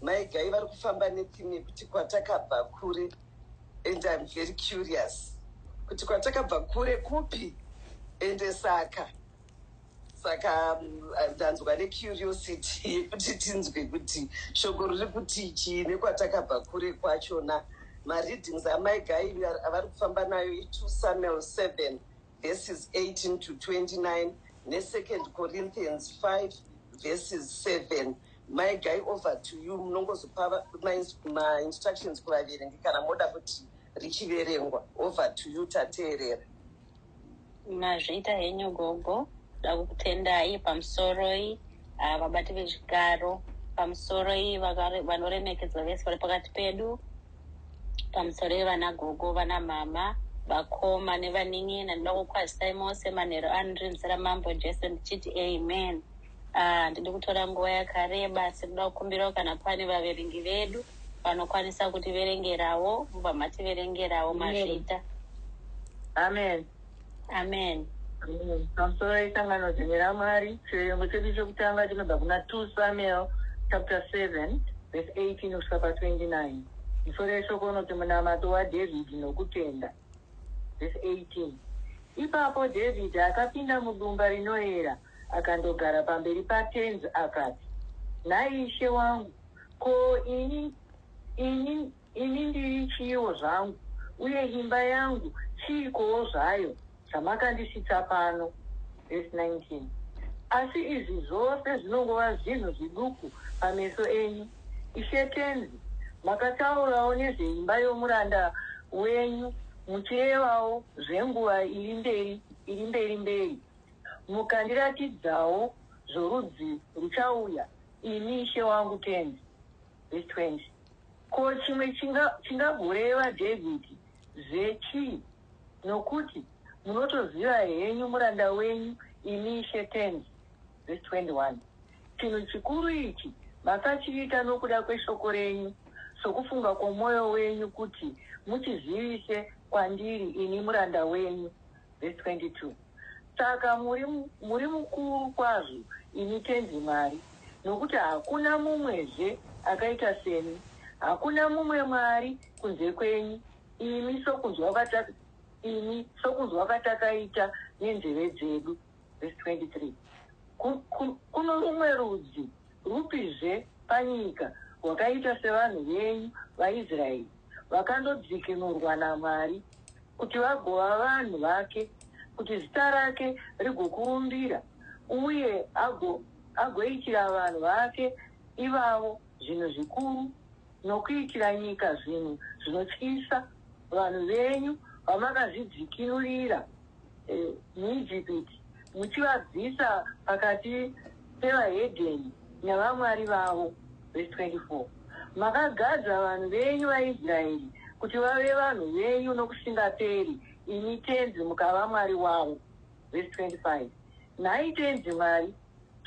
Mai Gai vari kufamba netheme yekuti kwatakabva kure and I'm very curious kuti kwatakabva kure kupi ende saka saka mm, ndanzwa necuriosity yekuti tinzwe kuti shoko riri kuti chii nekwatakabva kure kwachona mareadings amai Gai avari kufamba nayo i2 Samuel 7 verses 18 to 29 neSecond Corinthians 5 verses 7 My guy over to you munongozopa mainstructions kuvaverengi kana moda kuti richiverengwa over to you tateerera mazvita henyu gogo dakukutendai pamusoroi ah, vabati vechikaro pamusoroi vanoremekedzwa vese vari pakati pedu pamusoroi vana gogo vana mama vakoma nevanin'ina ndinokukwazisai mose manhero anrinzira mambo jesu ndichiti amen Handidi ah, kutora nguva yakareba asi kuda kukumbirawo kana pane vaverengi vedu vanokwanisa kutiverengerawo mubva mativerengerawo mazvita amen amen pamusoro isangano zimwe ramwari chiverengo chedu chokutanga chinobva kuna 2 samuel chapter 7 vese 18 kusvika pa 29 musoro yeshoko unoti munamato wadhavhidhi nokutenda Vhesi 18 Ipapo Dhavhidhi akapinda mudumba rinoera akandogara pamberi paTenzi akati, Nhai ishe wangu, ko ini, ini, ini ndiri chiiwo zvangu, uye imba yangu chiikowo zvayo chamakandisvitsa pano? Vhesi 19 Asi izvi zvose zvinongova zvinhu zviduku pameso enyu, ishe Tenzi, makataurawo nezveimba yomuranda wenyu muchirevawo zvenguva iri mberi iri mberi mberi, mukandiratidzawo zvorudzi ruchauya, imi ishe wangu tenzi. Vhesi 20 Ko chimwe chinga, chingagoreva Dhavhidhi zve chii? Nokuti munotoziva henyu muranda wenyu, imi ishe tenzi. Vhesi 21 Chinhu chikuru ichi masachiita nokuda kweshoko renyu, sokufunga kwomwoyo wenyu, kuti muchizivise kwandiri ini muranda wenyu. Vhesi 22. Saka muri, muri mukuru kwazvo, imi Tenzi Mwari, nokuti hakuna mumwezve akaita semi. Hakuna mumwe Mwari kunze kwenyu, imi sokunzwa kwata, imi sokunzwa kwatakaita nenzeve dzedu. vhesi 23 Kuno rumwe rudzi rwupizve panyika rwakaita sevanhu venyu vaIsraeri, vakandodzikinurwa naMwari, kuti vagova vanhu vake, kuti zita rake rigokurumbira, uye agoitira vanhu vake ivavo zvinhu zvikuru, nokuitira nyika zvinhu zvinotyisa, vanhu venyu vamakazvidzikinurira muIjipiti, muchivabvisa pakati pevahedheni navamwari vavo. Vhesi 24. Makagadza vanhu venyu vaIsraeri kuti vave vanhu venyu nokusingaperi, imi Tenzi mukava Mwari wavo. vhesi 25. Nhai Tenzi Mwari,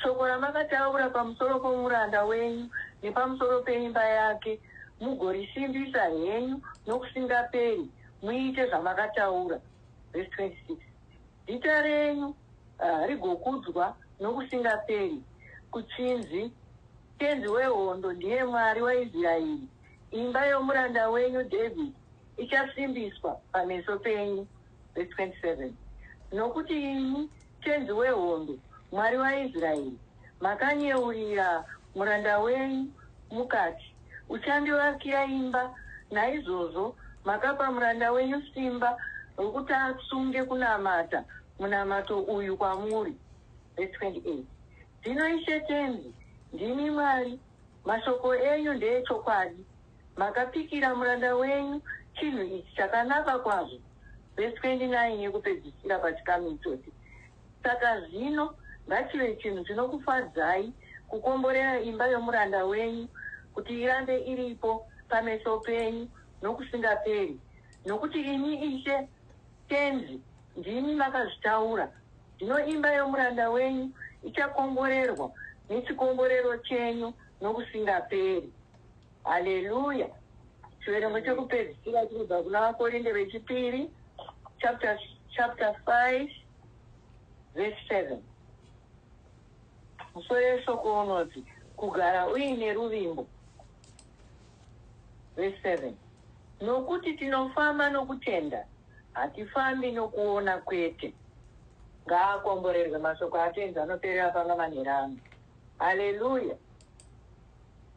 shoko ramakataura pamusoro pomuranda wenyu nepamusoro peimba yake mugorisimbisa henyu nokusingaperi, muite zvamakataura. Vhesi 26. Zita renyu rigokudzwa nokusingaperi, kuchinzi, Tenzi wehondo ndiye Mwari waIsraeri, imba yomuranda wenyu Dhavhidhi ichasimbiswa pameso penyu. vhesi 27 Nokuti imi, Tenzi wehondo, Mwari waIsraeri, makanyeurira muranda wenyu, mukati, Uchandivakira imba, naizvozvo makapa muranda wenyu simba rokuti atsunge kunamata munamato uyu kwamuri. Vhesi 28 Zvino Ishe Tenzi, ndimi Mwari, mashoko enyu ndeechokwadi, Makapikira muranda wenyu chinhu ichi chakanaka kwazvo, vhesi 29 yekupedzisira pachikamu ichochi. Saka zvino ngachive chinhu chinokufadzai kukomborera imba yomuranda wenyu kuti irambe iripo pameso penyu nokusingaperi, nokuti imi Ishe Tenzi ndimi makazvitaura. Zvino imba yomuranda wenyu ichakomborerwa nechikomborero chenyu nokusingaperi. haleluya chiverengo chekupedzisira chinobva kuna vakorinde vechipiri chapter, chapter 5 verse 7 musoro yeshoko unoti kugara uine ruvimbo verse 7 nokuti tinofamba nokutenda hatifambi nokuona kwete ngaakomborerwe mashoko atenzi anoperera panga manherangu haleluya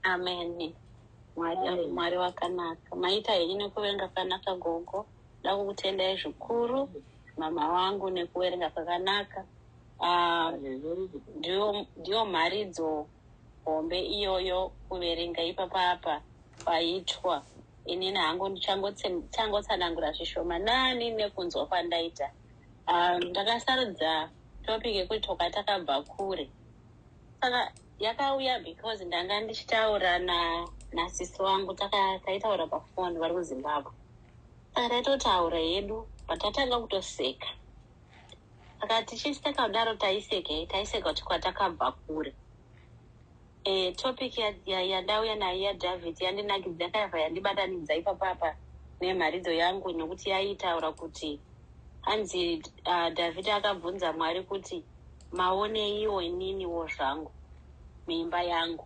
Amen. Mwari ari Mwari wakanaka. Maita henyu nekuverenga kwakanaka gogo. Nda kukutendai zvikuru mama wangu nekuverenga kwakanaka. Ah, ndiyo ndiyo mharidzo hombe iyoyo kuverenga ipapa apa paitwa. Inini hangu ndichangotsanangura zvishoma nani nekunzwa kwandaita. Ah, ndakasarudza topic yekuti toka takabva kure. Saka Yakauya because ndanga ndichitaura na nasisi wangu taitaura pafoni vari kuzimbabwe saka taitotaura yedu but tatanga kutoseka saka tichisi takadaro taiseka taiseka kuti kwatakabva kure e, topic yandauya nayo yadavid yandinakidza yakaiva yandibatanidza ipapapa nemharidzo yangu nokuti yaitaura kuti hanzi uh, david akabvunza mwari kuti maoneiwo ininiwo zvangu muimba yangu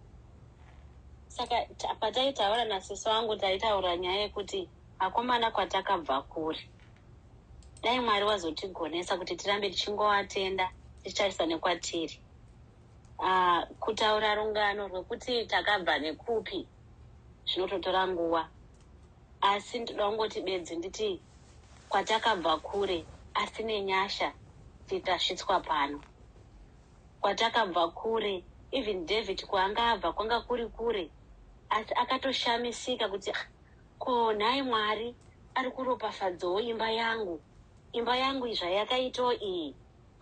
saka pataitaura nasisi wangu taitaura nyaya yekuti akomana kwatakabva kuri dai mwari wazotigonesa kuti tirambe tichingovatenda tichitarisa nekwatiri uh, kutaura rungano rwekuti takabva nekupi zvinototora nguva asi ndoda kungoti bedzi nditi kwatakabva kure asi nenyasha titasvitswa pano kwatakabva kure even david kwaanga abva kwanga kuri kure asi akatoshamisika kuti ah, ko nhai mwari ari kuropafadzawo imba yangu imba yangu zvayakaitawo iyi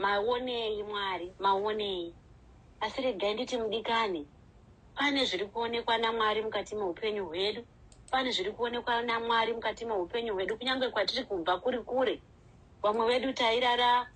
maonei mwari maonei asi regai nditi mudikani Pane zviri kuonekwa naMwari mukati meupenyu hwedu. Pane zviri kuonekwa naMwari mukati meupenyu hwedu, kunyange kwatiri kubva kuri kure. Vamwe vedu tairara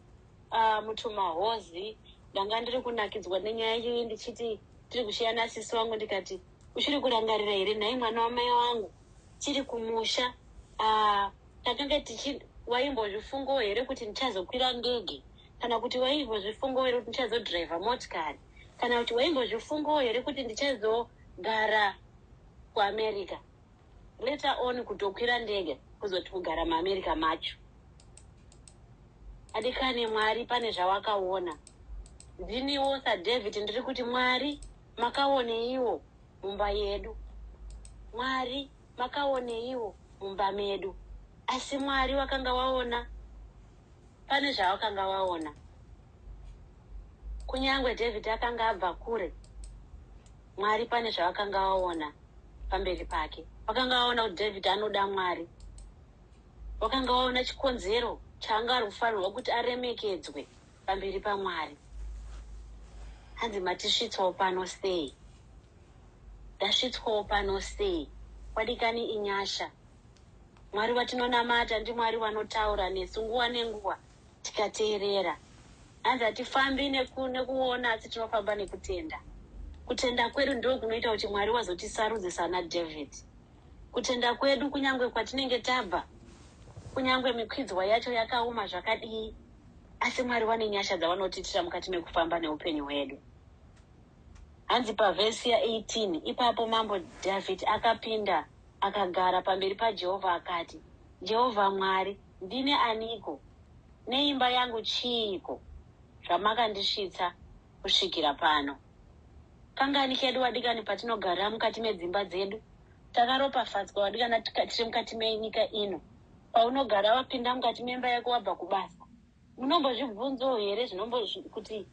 uh, mutumahozi. Ndanga ndiri kunakidzwa nenyaya iyoyi ndichiti tiri kusheya nasisi wangu ndikati, uchiri kurangarira here nhai mwana wamai wangu tiri kumusha uh, takanga tichi waimbozvifungawo here kuti ndichazokwira ndege kana kuti waimbozvifungawo here kuti ndichazodhiraivha motikari kana kuti waimbozvifungawo here kuti ndichazogara kuamerica later on kutokwira ndege kuzoti kugara muamerica macho adikani mwari pane zvawakaona ndiniwo sadavid ndiri kuti mwari makaoneiwo mumba yedu mwari makaoneiwo mumba medu asi mwari wakanga waona pane zvavakanga vaona. Kunyange David akanga abva kure, Mwari pane zvavakanga vaona pamberi pake. Vakanga vaona kuti David anoda Mwari. Vakanga vaona chikonzero chaanga ari kufanirwa kuti aremekedzwe pamberi pamwari hanzi matisvitswawo pano sei ndasvitswawo pano sei kwadikani inyasha Mwari watinonamata ndiMwari wanotaura nesu nguva nenguva tikateerera. Hanzi hatifambi neku, nekuona asi tinofamba nekutenda. Kutenda kwedu ndiko kunoita kuti Mwari wazotisarudze sana David. Kutenda kwedu kunyange kwatinenge tabva, kunyange mikwidzwa yacho yakaoma zvakadii, asi Mwari wane nyasha dzavanotiitira mukati mekufamba neupenyu hwedu. Hanzi pavhesi ya 18 ipapo mambo David akapinda Akagara pamberi paJehovha akati, Jehovha Mwari, ndini aniko, neimba yangu chiiko, zvamakandisvitsa kusvikira pano? Kangani kedu, wadikani, patinogarira mukati medzimba dzedu! Takaropafadzwa, wadikana, tiri mukati menyika ino. Paunogara wapinda mukati memba yako wabva kubasa, munombozvibvunzawo here zvinombo kuti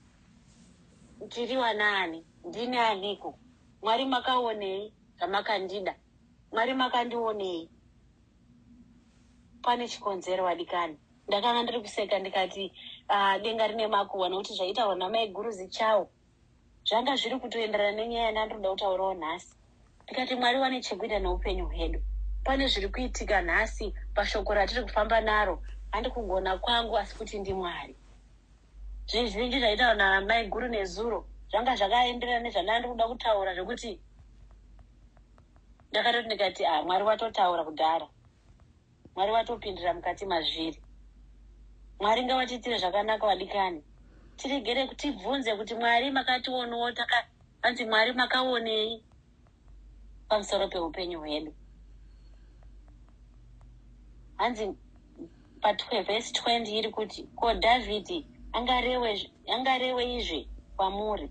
tiri wanaani, ndini aniko, Mwari makaonei? zvamakandida mwari makandionei pane chikonzero vadikani ndakanga ndiri kuseka ndikati uh, denga rine makuhwa nokuti zvaitaurwa namaiguru zichawo zvanga zviri kutoenderana nenyaya yandandinoda kutaurawo nhasi ndikati mwari wane chekuita neupenyu hwedu pane zviri kuitika nhasi pashoko ratiri kufamba naro handi kugona kwangu asi kuti ndimwari Zvinhu zvinenge zvaitaurwa naamai guru nezuro zvanga zvakaenderana nezvandanga ndiri kuda kutaura zvekuti ndakatoti ndikati ah mwari watotaura kudhara mwari watopindira mukati mazviri mwari ngavatiitire zvakanaka vadikani tiregere tibvunze kuti mwari makationewo taka anzi mwari makaonei pamusoro peupenyu hwedu hanzi pavhesi 20 iri kuti ko dhavhidhi angarewe izvi kwamuri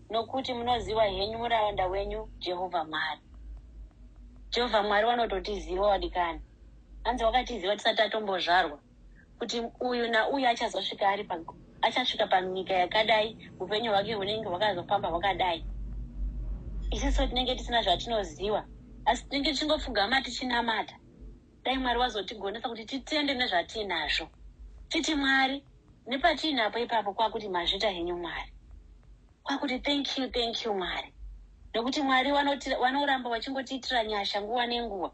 nokuti munoziva henyu muraunda wenyu jehovha mwari jehovha mwari wanototiziva wadikani hanzi wakatiziva tisati atombozvarwa kuti uyu nauyu achazosvika ari achasvika panyika yakadai upenyu hwake hunenge hwakazofamba hwakadai isiso tinenge tisina zvatinoziva asi tinenge tichingopfugama tichinamata dai mwari wazotigonesa kuti titende nezvatiinazvo titi mwari nepatiinapo ipapo kwakuti mazvita henyu mwari kwakuti thank you thank you mwari nekuti mwari vanoramba vachingotiitira nyasha nguva nenguva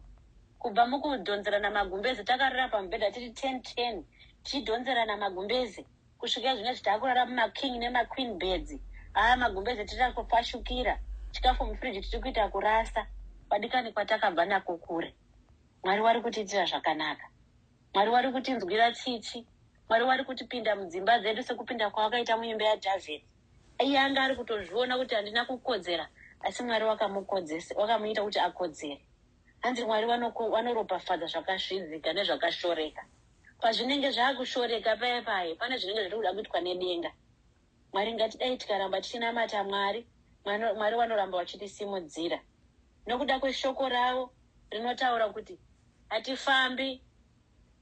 Kubva mukudhonzerana magumbeze takarara pamubhedha tiri 10 10 tichidhonzerana magumbeze kusvika zvino izvi takurara mumaking nemaqueen beds. Haa magumbeze tiri kufashukira. Chikafu mufridge tiri kuita kurasa. Kwadikani kwatakabva nako kure. Mwari wari kutiitira zvakanaka. Mwari wari kutinzwira tsitsi. Mwari wari kutipinda mudzimba dzedu sekupinda kwawakaita muimba yaDavid. Iye anga ari kutozviona kuti handina kukodzera asi Mwari wakamukodzesa wakamuita kuti akodzere. Hanzi Mwari vanoko, vanoropafadza zvakasvidzika nezvakashoreka. Pazvinenge zvakushoreka paye paye pane zvinenge zviri kuda kuitwa nedenga. Mwari ngatidai tikaramba tichinamata Mwari, Mwari, Mwari vanoramba vachitisimudzira nokuda kweshoko ravo rinotaura kuti hatifambi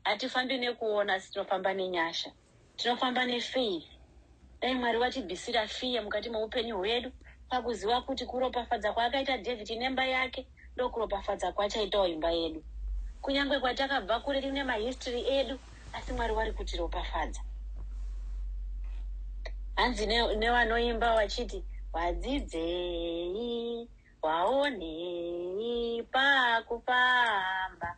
Hatifambi nekuona asi tinofamba nenyasha. Tinofamba nefaith. Dai Mwari vatibisira fear mukati meupenyu hwedu pakuziva kuti kuropafadza kwaakaita David nemba yake ndokuropafadza kwachaitawo imba yedu. Kunyangwe kwatakabva kure tine mahistory edu asi Mwari wari kutiropafadza. Hanzi nevanoimba vachiti wadzidzei waonei pakufamba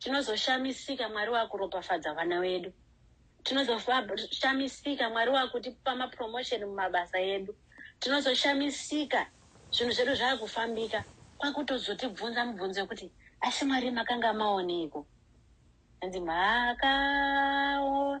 tinozoshamisika mwari wakuropafadza vana vedu tinozoshamisika mwari wakutipa mapromotion mumabasa edu tinozoshamisika zvinhu zvedu zvakufambika kwakutozotibvunza mubvunzo yekuti asi mwari makanga maoneiko hanzi makaona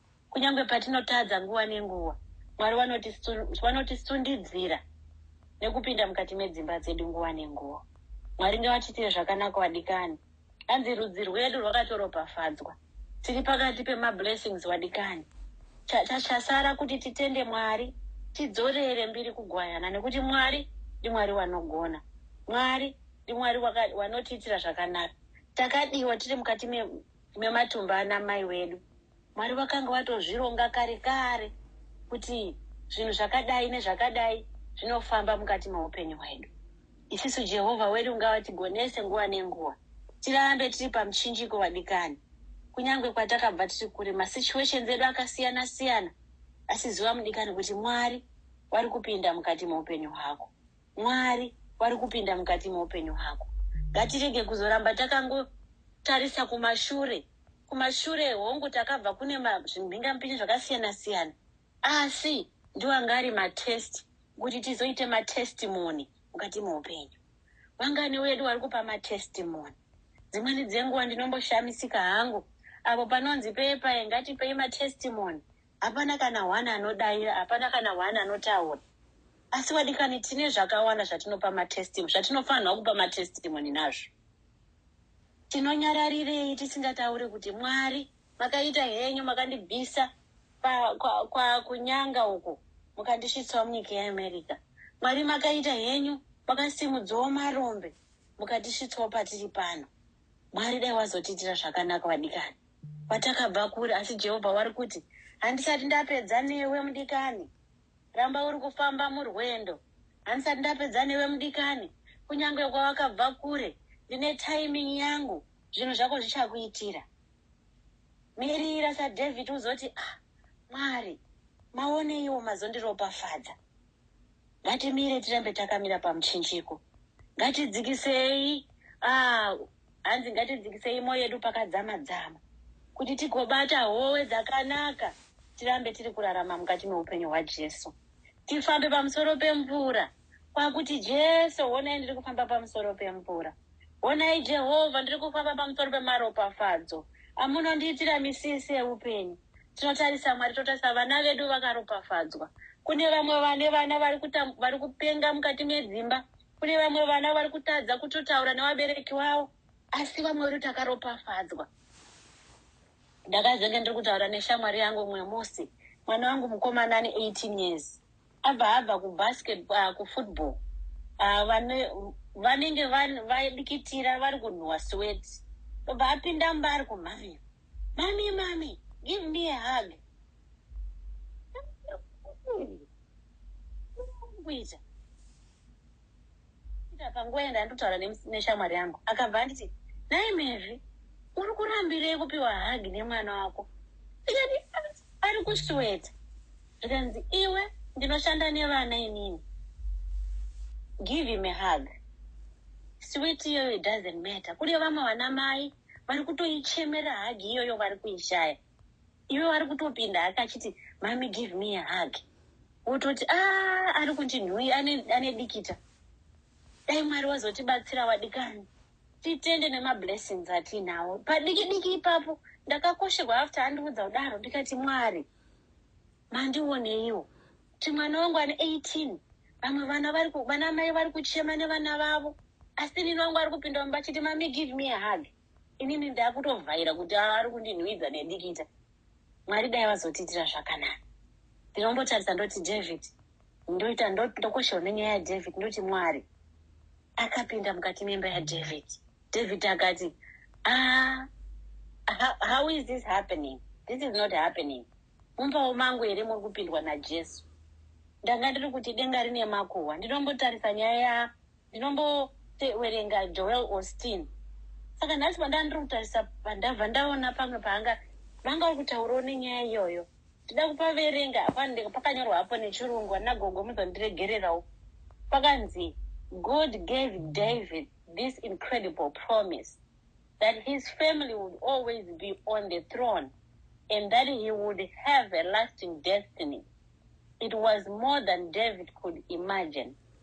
Kunyange patinotadza nguva nenguva, Mwari vanotisundidzira nekupinda mukati medzimba dzedu nguva nenguva. Mwari ngavatiitire zvakanaka wadikani. Hanzi rudzi rwedu rwakatoropafadzwa. Tiri pakati pemablessings wadikani. Chasara kuti titende Mwari, tidzorere mbiri kugwayana nekuti Mwari ndiMwari wanogona. Mwari ndiMwari wanotiitira zvakanaka. Takadiwa tiri mukati Imi matumba ana mai wedu Mwari vakanga vatozvironga kare kare kuti zvinhu zvakadai nezvakadai zvinofamba mukati meupenyu hwedu. Isisu Jehovha wedu ngavatigonese nguva nenguva tirambe tiri pamuchinjiko vadikani. Kunyangwe kwatakabva tiri kure masituations edu akasiyana siyana asi ziva mudikani kuti Mwari vari kupinda mukati meupenyu hwako. Mwari vari kupinda mukati meupenyu hwako. Ngatirege kuzoramba takangotarisa kumashure. Kumashure hongu takabva kune zvimhingamupinyi zvakasiyana siyana, asi ndiwo anga ari matest kuti tizoite matestimony mukati meupenyu. Vangani vedu vari kupa matestimony? Dzimweni dzenguva ndinomboshamisika hangu apo panonzi pepa ngatipei matestimony Hapana kana one anodaira, hapana kana one anotaura. Asi vadikani, tine zvakawanda zvatinopa matestimony, zvatinofanirwa kupa matestimony nazvo. Tinonyararirei tisingatauri kuti Mwari makaita henyu, makandibvisa pa- kwa- kwa- kunyanga uko mukandisvitsawo munyika yeamerica mwari makaita henyu makasimudzawo marombe mukandisvitsawo patiri pano mwari dai wazotiitira zvakanaka vadikani kwatakabva kure, asi Jehovha wari kuti, Handisati ndapedza newe, mudikani. Ramba uri kufamba murwendo. Handisati ndapedza newe, mudikani. Kunyange kwawakabva kure, ndine timing yangu, zvinhu zvako zvichakuitira. Mirira saDhavid uzoti, Ah, Mwari, maoneiwo mazondiropafadza. ngatimire tirambe takamira pamuchinjiko ngatidzikisei ah, hanzi ngatidzikisei moyo yedu pakadzama dzama kuti tigobata howe dzakanaka tirambe tiri kurarama mukati meupenyu hwajesu tifambe pamusoro pemvura kwakuti jesu honai ndiri kufamba pamusoro pemvura honai jehovha ndiri kufamba pamusoro pemaropafadzo amunondiitira misisi eupenyu tinotarisa mwari totarisa vana vedu vakaropafadzwa kune vamwe vane vana vari kuta- vari kupenga mukati medzimba kune vamwe vana vari kutadza kutotaura nevabereki vavo asi vamwe vedu takaropafadzwa ndakazenge ndiri kutaura neshamwari yangu umwe musi mwana wangu mukomana ane 18 years Abva abva kubasket uh, kufootball uh, vane, vanenge vadikitira vari kunhuwa swet obva apinda mba ari kumhamira mami mami give me a hug kuita Ndakapinda panguva yandaitotaura neshamwari yangu akabva anditi, Nhai Mavy, uri kurambirei kupiwa hug nemwana wako? Ndikati, Ari kusweater. Zvikanzi, Iwe ndinoshanda nevana inini. Give him a hug. Sweat iyoyo doesn't matter. Kune vamwe vanamai vari kutoichemera hug iyoyo vari kuishaya. iwe wari kutopinda hake achiti mami give me a hug wototi a ah, ari kuti nhuyi ane dikita dai mwari wazotibatsira wadikani titende nemablessings atiinawo padiki diki ipapo ndakakosherwa after andiudza kudaro ndikati mwari mandioneiwo kuti mwana wangu ane 18 vamwe vana vana mai vari kuchema nevana vavo asi nini wangu ari kupinda mumba achiti mami give me a hug inini ndakutovhaira kuti ava vari kundinhuwidza nedikita mwari dai vazotiitira zvakanaka ndinombotarisa ndoti david ndoita ndokoshewa nenyaya yadavid ndoti mwari akapinda mukati memba yadavid david akati ah, how is this happening this is not happening mumbawo mangu here muri kupindwa najesu ndanga ndiri kuti denga rine makuhwa ndinombotarisa nyaya ndinombotewerenga Joel Austin saka nhasi pandandiri kutarisa pandabva ndaona pamwe paanga vanga uri kutaurawo nenyaya iyoyo ndida kupaverenga apa pakanyorwa hapo nechirungu ana gogo muzondiregererawo pakanzi god gave david this incredible promise that his family would always be on the throne and that he would have a lasting destiny it was more than david could imagine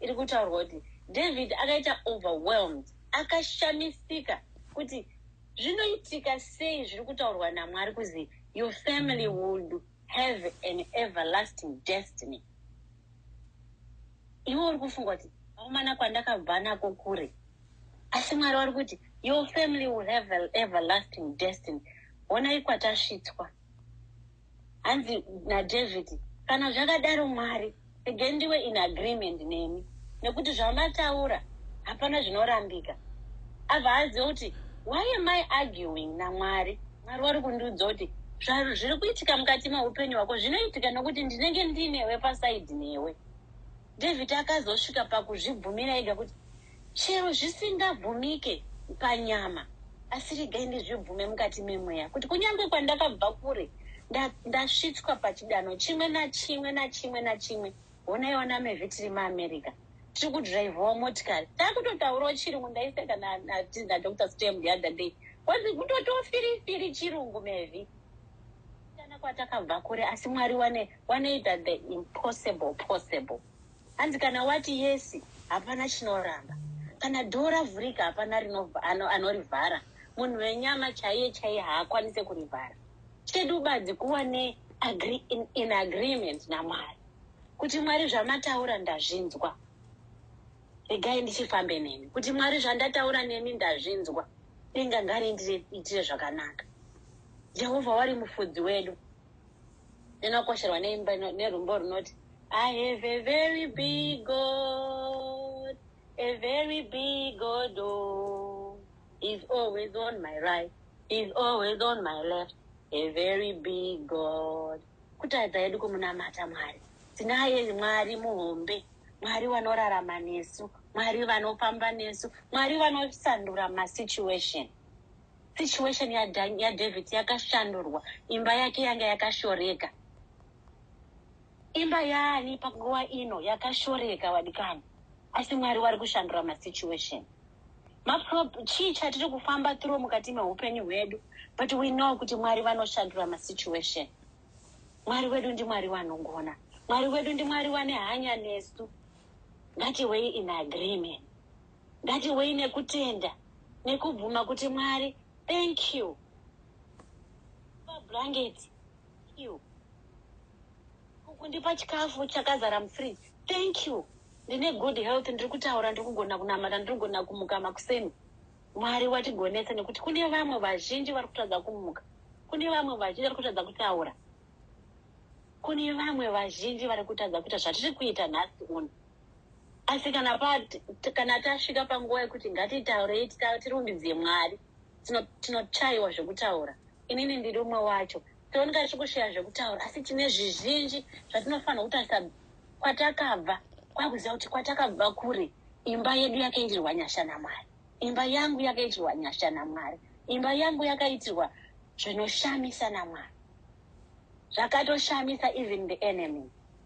iri kutaurwa kuti davhidhi akaita overwhelmed akashamisika kuti zvinoitika sei zviri kutaurwa namwari kuzi your family would have an everlasting destiny iwe uri kufunga kuti akomana kwandakabva nako kure asi mwari wari kuti your family will have an everlasting destiny honai kwatasvitswa hanzi naDavid, Kana zvakadaro Mwari, regai ndiwe in agreement nemi, nekuti zvamataura hapana zvinorambika. Abva aziva kuti why am I arguing naMwari? Mwari wari kundiudza kuti zviri kuitika mukati meupenyu hwako zvinoitika nekuti ndinenge ndinewe pasaidi newe. David akazosvika pakuzvibvumira ega kuti, Chero zvisingabvumike panyama, asi regai ndizvibvume mukati memweya, kuti kunyange kwandakabva kure, nda, ndasvitswa pachidanho chimwe nachimwe nachimwe nachimwe. Honai vana Mevi tiri muAmerica, tiri kudhiraivhawo motikari. Takutotaurawo chirungu, ndaiseka na, na, na Dr. Stem the other day. Kwanzi kutotiwo firi firi chirungu Mevi. Kana kwatakabva kure, asi Mwari wane wanoita the impossible possible hanzi kana wati yesi hapana chinoramba kana dhoo ravhurika hapana anorivhara ano munhu wenyama chaiye chaiye haakwanise kurivhara chedu badzi kuva ne agree, in, in agreement namwari kuti mwari zvamataura ndazvinzwa regai ndichifambe nemi kuti mwari zvandataura nemi ndazvinzwa denga ngari ndiitire zvakanaka jehovha wari mufudzi wedu inokosherwa neimba nerumbo runoti i have a very big god a very big god oh, is always on my right is always on my left a very big god kutaridza yedu kumunamata mwari tinaye mwari muhombe mwari vanorarama nesu mwari vanofamba nesu mwari vanosandura masituation situation yaDavid yakashandurwa imba yake yanga yakashoreka imba yaani panguva ino yakashoreka vadikani asi mwari wari kushandura masituation chii chatiri kufamba through mukati meupenyu hwedu but we know kuti mwari vanoshandura masituation mwari wedu ndimwari vanogona mwari wedu ndimwari vane hanya nesu ngativei in agreement Ngatiwei nekutenda nekubvuma kuti Mwari thank you pa blanket thank you kundipa chikafu chakazara mufridge thank you ndine good health ndiri kutaura ndiri kugona kunamata ndiri kugona kumuka makuseni mwari watigonesa nekuti kune vamwe vazhinji vari kutadza kumuka kune vamwe vazhinji vari kutadza kutaura kune vamwe vazhinji vari kutadza kuita zvatiri kuita nhasi uno asi kana pa kana tasvika panguva yekuti ngatitaurei tirumbidzei mwari tinochaiwa zvekutaura inini ndiri umwe wacho tinooneka tichikushaya zvekutaura asi tine zvizhinji zvatinofanira kutarisa kwatakabva kwakuziva kuti kwatakabva kure imba yedu yakaitirwa nyasha namwari imba yangu yakaitirwa nyasha namwari imba yangu yakaitirwa zvinoshamisa namwari zvakatoshamisa even the enemy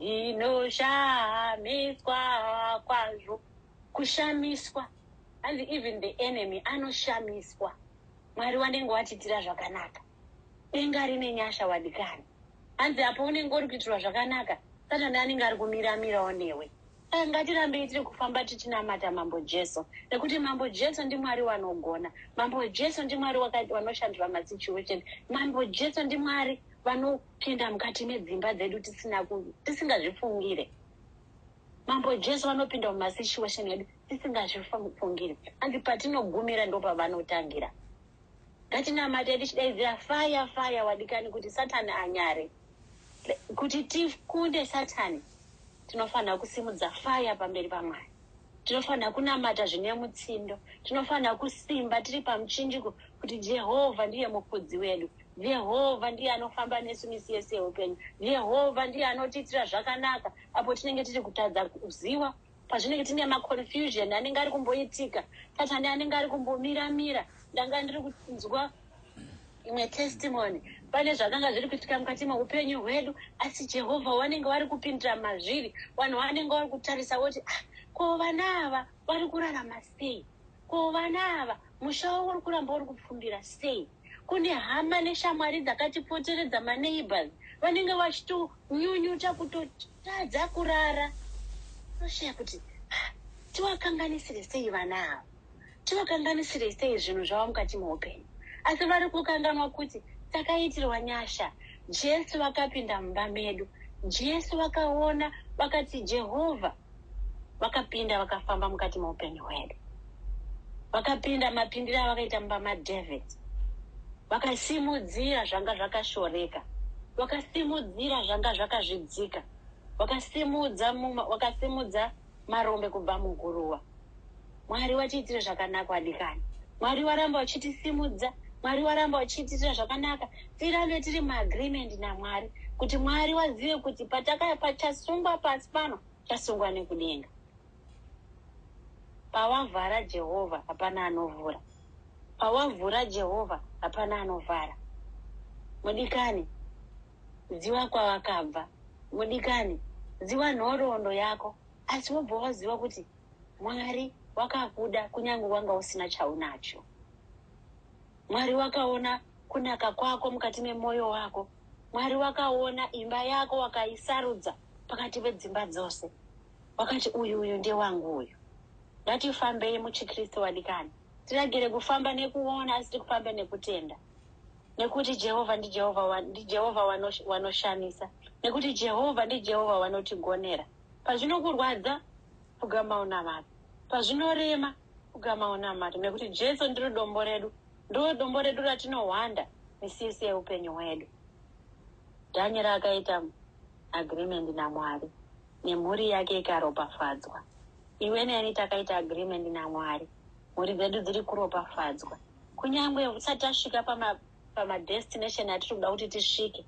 ndinoshamiswa kwazvo kushamiswa hanzi even the enemy anoshamiswa mwari wanenge watiitira zvakanaka denga rine nyasha wadikani hanzi apo unenge uri kuitirwa zvakanaka satani anenge ari kumiramirawo newe saka ngatirambei tiri kufamba tichinamata mambo jesu nekuti mambo jesu ndimwari wanogona mambo jesu ndimwari wanoshandura masituation mambo jesu ndimwari vano Pinda mukati medzimba dzedu tisina tisingazvifungire. Mambo Jesu vanopinda mumasituation edu tisingazvifungire. Hanzi patinogumira ndopavanotangira. Ngatinamate tichidaidzira fire fire wadikani kuti Satan anyare. Kuti tikunde Satan tinofanira kusimudza fire pamberi paMwari. Tinofanira kunamata zvine mutsindo. Tinofanira kusimba tiri pamuchinjiko kuti Jehovha ndiye mufudzi wedu. Jehovha ndiye anofamba nesu misi yese yeupenyu. Jehovha ndiye anotiitira zvakanaka apo tinenge tiri kutadza kuziva, pazvinenge tine maconfusion anenge ari kumboitika, patane anenge ari kumbomira-mira. Ndanga ndiri kunzwa imwe testimony pane zvakanga zviri kuitika mukati meupenyu hwedu asi jehovha wanenge wari kupindira mazviri vanhu vanenge vari kutarisa voti ah, ko vana ava vari kurarama sei ko vana ava musha wavo uri kuramba uri kupfumbira sei Kune hama neshamwari dzakatipoteredza maneighbours vanenge vachitonyunyuta kutotadza kurara toshaya kuti ah, tiwakanganisire sei vana ava tiwakanganisire sei zvinhu zvavo mukati meupenyu asi vari kukanganwa kuti takaitirwa nyasha jesu vakapinda mumba medu jesu vakaona vakati jehovha vakapinda vakafamba mukati meupenyu hwedu vakapinda mapindiro avakaita mumba madavid vakasimudzira zvanga zvakashoreka vakasimudzira zvanga zvakazvidzika vakasimudza muma, vakasimudza marombe kubva muguruva Mwari watiitira zvakanaka wadikani. Mwari waramba wachitisimudza. Mwari waramba wachitiitira zvakanaka. Tirambe tiri muagreement naMwari kuti Mwari wazive kuti patakaya pachasungwa pasi pano chasungwa nekudenga. Pawavhara Jehovha hapana anovhura. Pawavhura Jehovha hapana anovhara. Mudikani, ziva kwawakabva. Mudikani, ziva nhoroondo yako asi wobva waziva kuti Mwari wakakuda kunyange wanga usina chaunacho. Mwari wakaona kunaka kwako mukati memoyo wako. Mwari wakaona imba yako wakaisarudza pakati pedzimba dzose. Wakati uyu uyu ndewangu uyu. Ngatifambei muchiKristu wadikani. Tiragere kufamba nekuona asi tikufambe nekutenda. Nekuti Jehovha ndiJehovha ndiJehovha wanoshamisa. Nekuti Jehovha ndiJehovha wanotigonera. Pazvinokurwadza, pfugama unamate. Pazvinorema, pfugama unamate, nekuti Jesu ndiro dombo redu, ndiro dombo redu ratinohwanda misi yese yeupenyu hwedu. Dhanyeri akaita agreement naMwari, nemhuri yake ikaropafadzwa. Iwe neni takaita agreement naMwari, mhuri dzedu dziri kuropafadzwa, kunyange usati tasvika pamadestination atiri kuda kuti tisvike.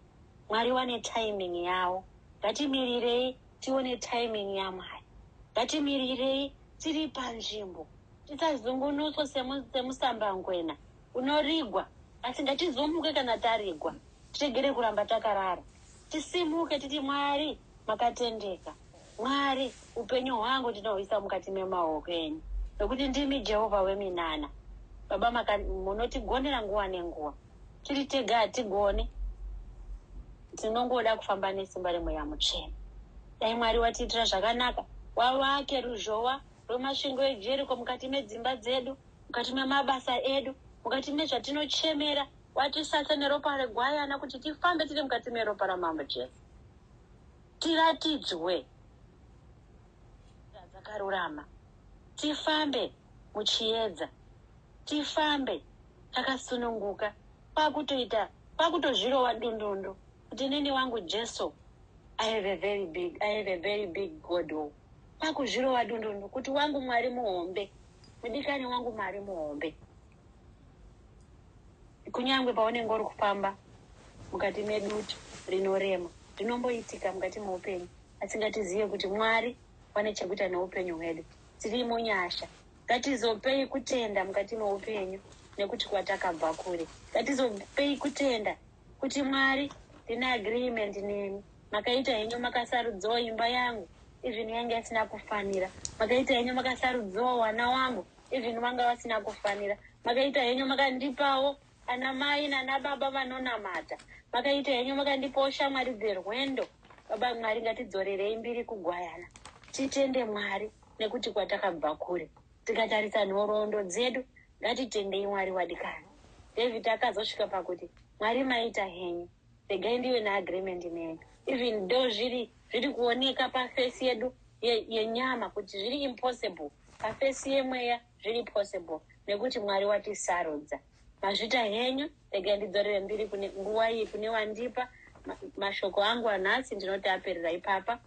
Mwari vane timing yavo. Ngatimirirei tione timing yaMwari. Ngatimirirei tiri panzvimbo. Tisazungunuswa semusambangwena unorigwa. Asi ngatizomuke kana tarigwa. Tiregere kuramba takarara. Tisimuke titi Mwari makatendeka. Mwari upenyu hwangu ndinohuisa mukati memaoko enyu. Nokuti ndimi Jehovha weminana. Baba munoti gondera nguva nenguva. tiri tega hatigone tinongoda kufamba nesimba remweya mutsvene dai mwari watiitira zvakanaka wavake ruzhowa rwemasvingo ejeriko mukati medzimba dzedu mukati memabasa edu mukati mezvatinochemera watisatsa neropa regwayana kuti tifambe tiri mukati meropa ramambo jesu tiratidzwe dzakarurama tifambe muchiedza tifambe takasununguka kwakutoita kwakutozvirova dundundu kuti neni wangu jesu i have a very big i have a very big god o kwakuzvirova dundundu kuti wangu mwari muhombe mudikani wangu mwari muhombe kunyange paunenge uri kufamba mukati medutu rinorema rinomboitika mukati meupenyu asingatizive kuti mwari vane chekuita neupenyu hwedu tirimo nyasha Ngatizopei kutenda mukati meupenyu nekuti kwatakabva kure. Ngatizopei kutenda kuti Mwari ndine agreement nemi. Makaita henyu makasarudzawo imba yangu even yanga isina kufanira. Makaita henyu makasarudzawo wana wangu even vanga vasina kufanira. Makaita henyu makandipawo ana mai nana baba vanonamata. Makaita henyu makandipawo shamwari dzerwendo. Baba Mwari ngatidzorerei mbiri kugwayana. Titende Mwari. nekuti kwatakabva kure. Tikatarisa nhoroondo dzedu, ngatitendei Mwari wadikani. David akazosvika pakuti, Mwari maita henyu, regai ndive neagreement nemi. Even though zviri zviri kuoneka pafesi yedu ye- yenyama kuti zviri impossible, pafesi yemweya zviri possible nekuti Mwari watisarudza. Mazvita henyu, regai ndidzorere mbiri kune nguva iyi kune wandipa. Ma- Mashoko angu anhasi ndinoti aperera ipapa.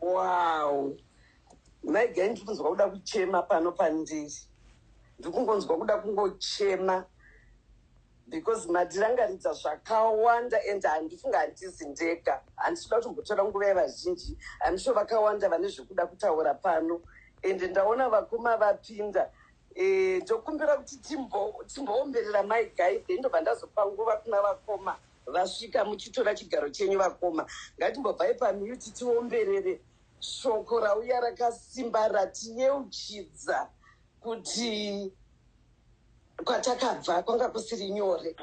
Wow. Mai Gai ndiri kunzwa kuda kuchema pano pandiri. Ndiri kungonzwa kuda kungochema because matirangaridza zvakawanda and handifunga handisi ndega. Handisi kuda kutombotora nguva yevazhinji. I'm sure vakawanda vane zvekuda kutaura pano and ndaona vakoma vapinda. Eh, ndokumbira kuti timbo- timboomberera Mai Gai then ndobva ndazopa nguva kuna vakoma. Vasvika muchitora chigaro chenyu vakoma. Ngatimbobvai pamute tiomberere shoko rauya rakasimba ratiyeuchidza kuti kwatakabva kwanga kusiri nyore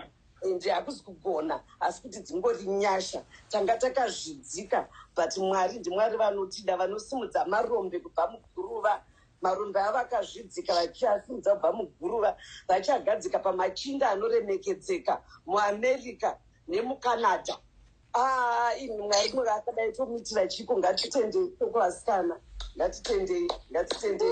ende hakuzi kugona asi kuti dzingori nyasha tanga takazvidzika but mwari ndimwari vanotida vanosimudza marombe kubva muguruva Marombe avo akazvidzika vachiasimudza kubva muguruva vachiagadzika pamachinda anoremekedzeka muAmerica nemuCanada. Aa imi mwari mwari akadai tomuitira chiiko ngatitendei toko vasikana ngatitendei ngatitendei